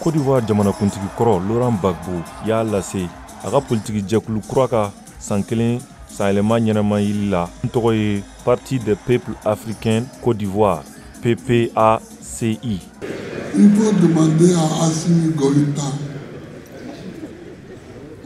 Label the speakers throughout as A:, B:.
A: Côte d'Ivoire jamanakuntigi kɔrɔ Laurent Gbagbo y'a lase a ka politiki jɛkulu kura ka san kelen sanyɛlɛma ɲɛnamayili la n tɔgɔ ye Parti des peuples africains Côte d'Ivoire PPACI
B: Il faut demander à Assimi Goïta.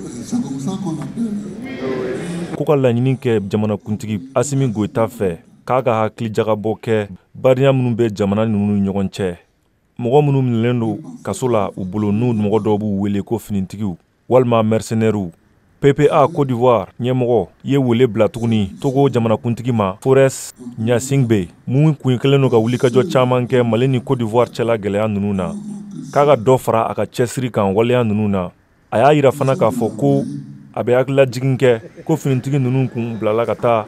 B: Euh, c'est comme ça qu'on appelle. Euh, ko ka laɲini
A: kɛ jamanakuntigi asimi goyita fɛ k'a ka hakili jagabɔ kɛ badenya minnu bɛ jamana ninnu ni ɲɔgɔn cɛ mɔgɔ minnu minɛlen don kaso la u bolo n'u mɔgɔ dɔw b'u wele ko finitigiw walima mɛrisenɛriw ppa kodiwari ɲɛmɔgɔ ye wele bila tuguni togo jamanakuntigi ma forɛs ɲasingbe min kun kelen don ka wulikajɔ caman kɛ mali ni kodiwari cɛla gɛlɛya ninnu na k'a ka dɔ fara a ka cɛsiri kan waleya ninnu na a y'a yira fana k'a fɔ ko a bɛ hakililajigin kɛ ko finitigi ninnu kun bilala ka taa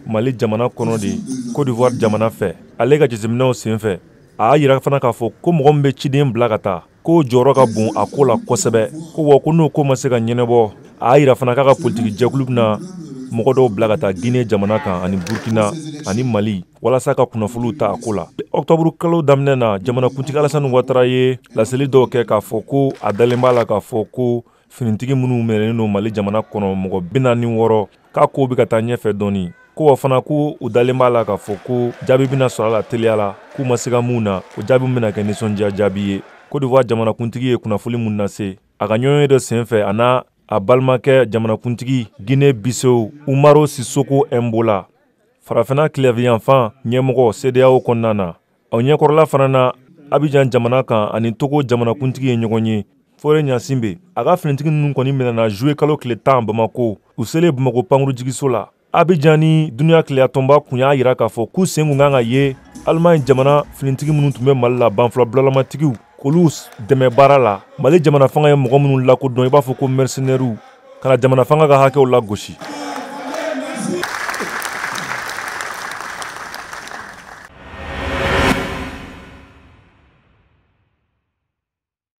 A: mali jamana kɔnɔ de kodiwari jamana fɛ ale ka jateminɛw senfɛ a y'a yira fana k'a fɔ ko mɔgɔ min bɛ ciden bila ka taa k'o jɔyɔrɔ ka bon a ko la kosɛbɛ ko wa ko n'o ko ma se ka ɲɛnabɔ a y'a yira fana k'a ka politiki jɛkulu bɛna mɔgɔ dɔw bila ka taa gine jamana kan ani burkina ani mali walasa ka kunnafoliw ta a ko la ɔktɔburu kalo daminɛ na jamanakuntigi alasani watara ye laseli dɔw kɛ k'a fɔ ko a dalen b'a la k'a fɔ ko Finitigi minnu minɛnen don Mali jamana kɔnɔ mɔgɔ bi naani ni wɔɔrɔ k'a kow bɛ ka taa ɲɛfɛ dɔɔni, ko wa fana ko u dalen b'a la k'a fɔ ko jaabi bɛna sɔrɔ a la teliya la k'u ma siga min na, o jaabi min bɛna kɛ nisɔndiya jaabi ye. Côte d'Ivoire jamanakuntigi ye kunnafoli min lase a ka ɲɔgɔnye dɔ senfɛ, a n'a balimakɛ jamanakuntigi Guinée Bissau Umaro Sissoco Embalo, Farafinna tilebinyanfan ɲɛmɔgɔ CEDEAO kɔnɔna na, O ɲɛkɔrɔla fana na Abijan jamana kan ani Togo jamanakuntigi ye ɲɔgɔn ye, Fore Ɲasinbe, a ka finitigi ninnu kɔni minɛna juillet kalo tile tan Bamako, u selen Bamako pankurujigiso la. Abijan ni duniya kelenyatɔnba kun y'a yira k'a fɔ k'u sen tun ka kan ka ye Allemagne jamana finitigi minnu tun bɛ Mali la, banfula bulalamatigiw. k'olu dɛmɛ baara la mali jamana fanga ye mɔgɔ ninnu lakodɔn i b'a fɔ ko mɛrisinɛriw ka na jamana fanga ka hakɛw lagosi